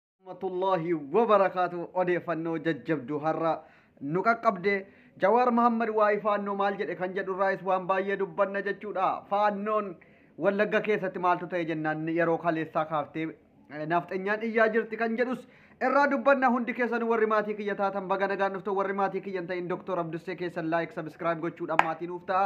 rahmatullahi wabarakaatu odeeffannoo jajjabduu har'a nu qaqqabde jawaar mahammad waa'ee faannoo maal jedhe kan jedhu irraayis waan baay'ee dubbanna jechuudha faannoon wallagga keessatti maaltu ta'e jennaan yeroo kaleessaa kaaftee naafxenyaan iyyaa jirti kan jedhus irraa dubbanna hundi keessan warri maatii kiyya taatan baga nagaan dhuftu warri maatii kiyya hin ta'in doktor abdussee keessan laayik sabiskiraayib gochuudhaan maatii nuuf ta'a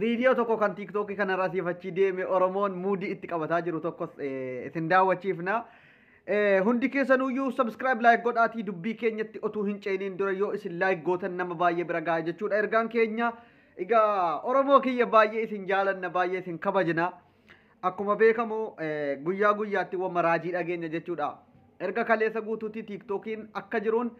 Viidiyoo tokko kan tiiktookii kanarraa siif achii deeme Oromoon muudii itti qabataa jiru tokkos eh, isin daawwachiifna. Eh, Hundi keessanuyyuu subscribe like godhaatii dubbii keenyatti otuu hin ceeniin dura yoo isin like gootan nama baay'ee bira ga'a jechuudha ergaan keenya. Egaa Oromoo kiyya baay'ee isin jaalanna baay'ee isin kabajna. Akkuma beekamu guyyaa guyyaatti wamma raajii dhageenya jechuudha. Erga kaleessa guutuutti tiiktookiin akka jiruun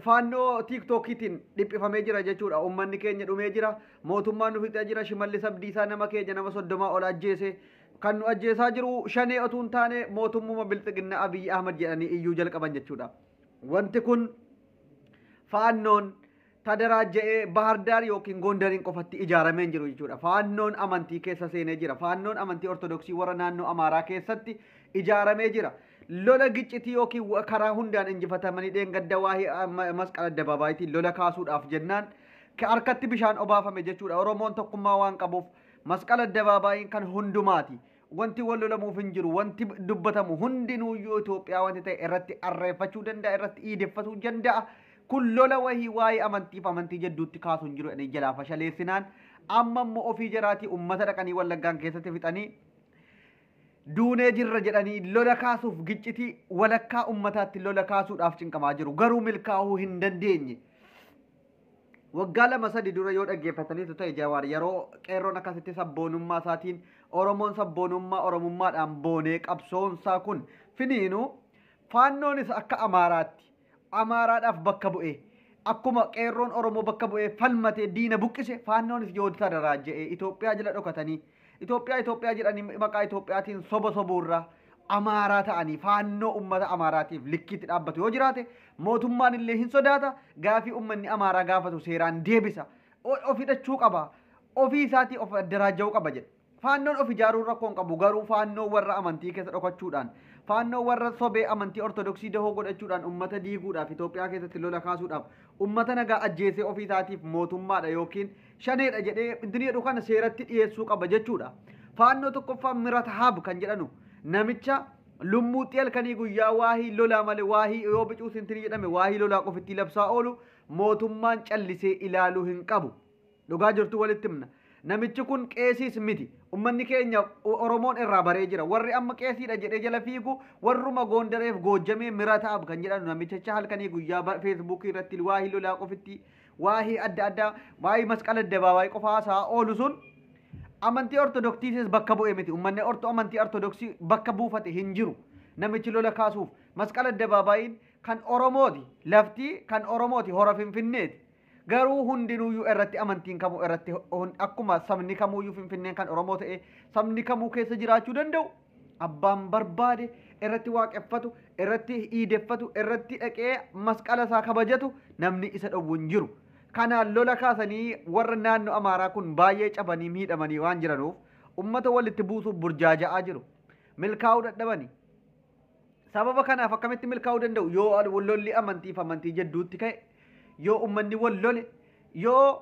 faannoo tiiktookiitiin dhiphifamee jira jechuudha. Uummanni keenya dhumee jira. Mootummaan nu fixee jira. Shimallis Abdiisaa nama keenya nama soddomaa ol ajjeese. Kan nu ajjeesaa jiru shanee otuu hin taane mootummuma bilxiginna Abiyyi Ahmad jedhanii iyyuu jalqaban jechuudha. Wanti kun faannoon tadaraajja'ee Bahardaar yookiin Gondariin qofatti ijaaramee hin jiru jechuudha. Faannoon amantii keessa seenee jira. Faannoon amantii Ortodoksii warra naannoo Amaaraa keessatti ijaaramee jira. Lola giccitii yookiin wa- karaa hundaan injifatamanii dheengadda waa'ee ah, ma- masqala addabaabaayitiin lola kaasuudhaaf jennaan ka- harkatti bishaan obaafame jechuudha. Oromoon tokkummaa waan qabuuf masqala addabaabaayiin kan hundumaati. Wanti wal lolamuuf hin jiru. Wanti dubbatamu hundinuuyyuu Itoophiyaa wanti ta'e irratti arreeffachuu danda'a, irratti iideffatuu danda'a. Kun lola wahii waa'ee amantiif amantii jedduutti kaasu hin jiru jedhanii jalaa fashaleessinaan amma immoo ofii jaraatii ummata dhaqanii wallaggaan keessatti fixanii duunee jirra jedhanii lola kaasuuf giccitii walakkaa ummataatti lola kaasuudhaaf cinqamaa jiru. Garuu milkaa'uu hin dandeenye. Waggaa lama sadi dura yoo dhaggeeffataniitu ta'e Jawaar yeroo qeerroon akkasitti sabboonummaa isaatiin Oromoon sabboonummaa Oromummaadhaan boonee qabsoon isaa kun finiinu faannoonis akka Amaaraatti Amaaraadhaaf bakka bu'ee akkuma qeerroon Oromoo bakka bu'ee falmatee diina buqqise faannoonis yoo tadaraa je'ee Itoophiyaa jala dhokatanii Itoophiyaa Itoophiyaa jedhanii maqaa Itoophiyaatiin soba sobuurra Amaaraa ta'anii faannoo ummata Amaaraatiif likkiitti dhaabbatu yoo jiraate mootummaan illee hin sodaata gaafii ummanni Amaaraa gaafatu seeraan deebisa O- of hidhachuu qaba ofii isaatii of addaraaja'uu qaba jedhe. Faannoon of ijaaruun rakkoo hin qabu garuu faannoo warra amantii keessa dhokachuudhaan faannoo warra sobee amantii ortodoksii dahoo godhachuudhaan ummata diiguudhaaf Itoophiyaa keessatti lola kaasuudhaaf ummata nagaa ajjeesee ofii isaatiif mootummaadha yookiin shaneedha jedhee inni jedhu kana seeratti dhiyeessuu qaba jechuudha. Faannoo tokkoffaa Mirat Haab kan jedhanu namicha lummuutti halkanii guyyaa waahii lolaa malee waahii yoo bicuu sintinii jedhame waahii lolaa qofittii labsaa oolu mootummaan callisee ilaaluu hin qabu. Dhugaa jirtu walitti himna. Namichi kun qeesiis miti. Ummanni keenya Oromoon irraa baree jira. Warri amma qeesiidha jedhee jala fiigu warruma Goondareef goojjamee Mirat Haab kan jedhanu namicha halkanii guyyaa feesbuukii irratti waahii lolaa qofittii waa'ee adda addaa waa'ee masqala addabaabaayii qofa haasa'aa oolu sun amantii ortodoksiitis bakka bu'e miti ummanni orto amantii ortodoksii bakka buufate hin jiru namichi lola kaasuuf masqala addabaabaayiin kan oromooti laftii kan oromooti hora finfinneeti garuu hundinuuyyuu irratti amantiin kamuu irratti hun- akkuma sabni kamuuyyuu finfinneen kan oromoo ta'e sabni kamuu keessa jiraachuu danda'u abbaan barbaade irratti waaqeffatu, irratti iideffatu, irratti dhaqee masqala isaa kabajatu namni isa dhowwu hin jiru. Kanaan lola kaasanii warra naannoo Amaaraa kun baay'ee cabanii miidhamanii waan jiranuuf ummata walitti buusuuf burjaaja'aa jiru. Milkaa'uu dadhabani. Sababa kanaaf akkamitti milkaa'uu danda'u? Yoo lolli amantii fi amantii jidduutti ka'e, yoo ummanni wal lole, yoo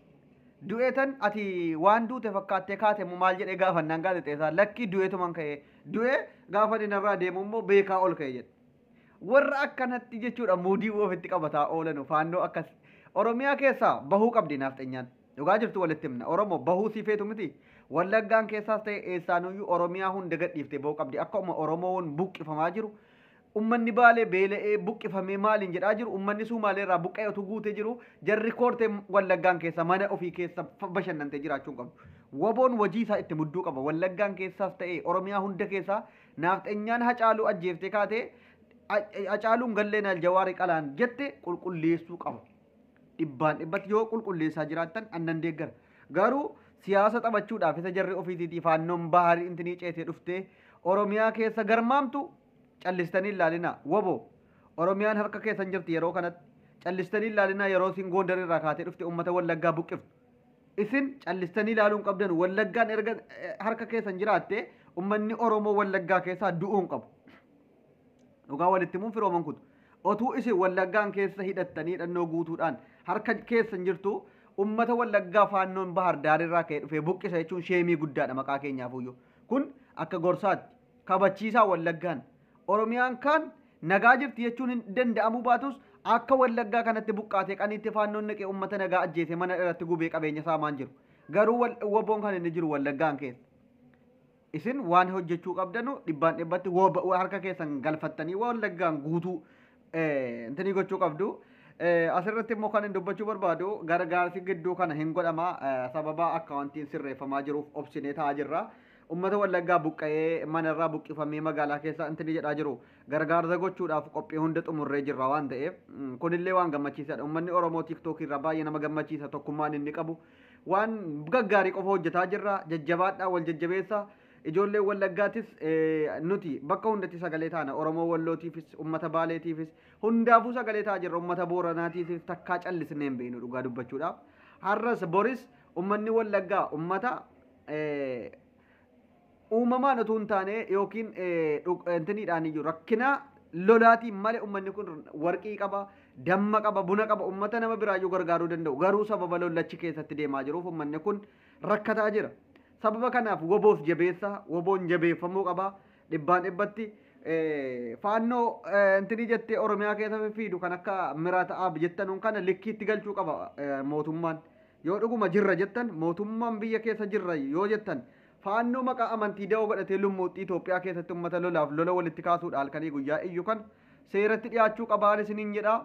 Du'eetan ati waan duute fakkaattee kaate immoo maal jedhee gaafannaan gaazexeesaan lakkii du'eetuman ka'ee du'ee gaafa inni narraa deemu immoo beekaa ol ka'e jedhe. Warra akkanatti jechuudha muudii ofitti qabataa oolanu faannoo akkas Oromiyaa keessaa bahuu qabdi naafxenyaan. Dhugaa jirtu walitti himna Oromoo bahuu sii feetu miti. Wallaggaan keessaas ta'e eessaanuyyuu Oromiyaa hunda gadhiiftee bahuu qabdi akka uma Oromoon buqqifamaa jiru Ummanni Baalee beela'ee, buqqifamee maaliin jedhaa jiru. Ummanni Suumaalee irraa buqqa'ee otuu guutee jiruu jarri koortee Wallaggaan keessa mana ofii keessa bashannantee jiraachuu hin qabdu. Waboon wajii isaa itti mudduu qaba. Wallaggaan keessaas ta'ee Oromiyaa hunda keessaa naafxenyaan Hacaaluu ajjeeftee kaatee Hacaaluun galleenaal Jawaari qalaan jette qulqulleessuu qaba. Dhibbaan dhibbatti yoo qulqulleessaa jiraattan an nan deeggara. Garuu siyaasa taphachuudhaaf isa jarri ofiisiitii faannoon baharii intinii ceetee dhuftee Oromiyaa keessa garmaamtu Callistanii hin laalinaa. Wbo! Oromiyaan harka keessan jirti yeroo kanatti. Callistanii hin laalinaa yeroo isin Goondar irraa kaatee dhufte uummata Wallaggaa buqqiftu. Isin callistanii ilaaluu hin qabdanu. Wallaggaan erga harka keessan jiraatte uummanni Oromoo Wallaggaa keessaa du'uu hin qabu. Dhugaa walitti himuun firooman kutu. Otuu isin Wallaggaan keessa hidhattanii hidhannoo guutuudhaan harka keessan jirtu uummata Wallaggaa faannoon Bahar Daar irraa ka'ee dhufee buqqisa jechuun sheemii guddaadha maqaa keenyaafuyyuu. Kun akka gorsaatti. kabachiisaa Wallaggaan. Oromiyaan kaan nagaa jirti jechuun hin danda'amuu baatus akka Wallaggaa kanatti buqqaatee qaniitti faannoon naqee uummata nagaa ajjeesee mana irratti gubee qabeenya saamaa hin jiru. Garuu wal- woboon kan inni jiru Wallaggaan keessa. Isin waan hojjechuu qabdanu dhibbaan dhibbatti wob- harka keessan galfattanii Wallaggaan guutuu Intinii gochuu qabdu. Asirratti immoo kan hin dubbachuu barbaadu gargaarsi gidduu kana hin godhama sababa akkaawuntiin sirreeffamaa jiruuf obsinee taa'aa jirra. Uummata wallaggaa buqqa'ee manarraa buqqifamee magaalaa keessa intinii jedhaa jiru gargaarsa gochuudhaaf qophii hunda xumurree jirra waan ta'eef kunillee waan gammachiisaadha. Uummanni Oromoo tiiktookii irraa baay'ee nama gammachiisa tokkummaan inni qabu waan gaggaarii qofa hojjetaa jirra jajjabaadhaa wal jajjabeessa. Ijoolleen Wallaggaatis nuti bakka hundatti sagalee taana. Oromoo Wallootiifis, uummata Baaleetiifis, hundaafuu sagalee ta'a jirra. Uummata Booranaatiifis takkaa callisnee hin beeknu dhugaa dubbachuudhaaf. Har'as boris uummanni Wallaggaa uummata uumamaan utuu hin taane yookiin intiniidhaan iyyuu rakkinaa lolaatiin malee uummanni kun warqii qaba, damma qaba, buna qaba, uummata nama biraayyuu gargaaruu danda'u. Garuu sababa lollachi keessatti deemaa jiruuf uummanni kun rakkataa jira. Sababa kanaaf woboos jabeessaa, woboon jabeeffamuu qaba. Dhibbaan dhibbatti faannoo intinii jettee Oromiyaa keessa fiffiidu kan akka Mirat Aab jettanuun kana likkiitti galchuu qaba mootummaan. Yoo dhuguma jirra jettan mootummaan biyya keessa jirra yoo jettan faannoo maqaa amantii da'oo godhatee lummuuxxii Itoophiyaa keessatti ummata lolaaf lola walitti kaasuudha halkanii guyyaa iyyu kana seeratti dhiyaachuu qabaan isiniin jedha.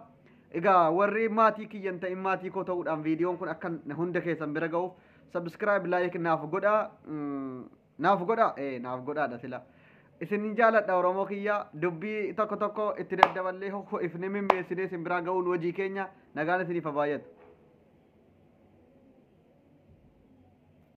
Egaa warri maatii kiyya hin ta'in maatii koo ta'uudhaan viidiyoon kun akka hunda keessan bira ga'uuf subscribe like naaf godha mm, naaf godha ee naaf godhaadha sila isin jaaladha oromoo kiyya dubbii tokko tokko itti daddaballee hokko ifni mimmeessinee isin biraa ga'uun hojii keenya nagaan isiniif haa baay'atu.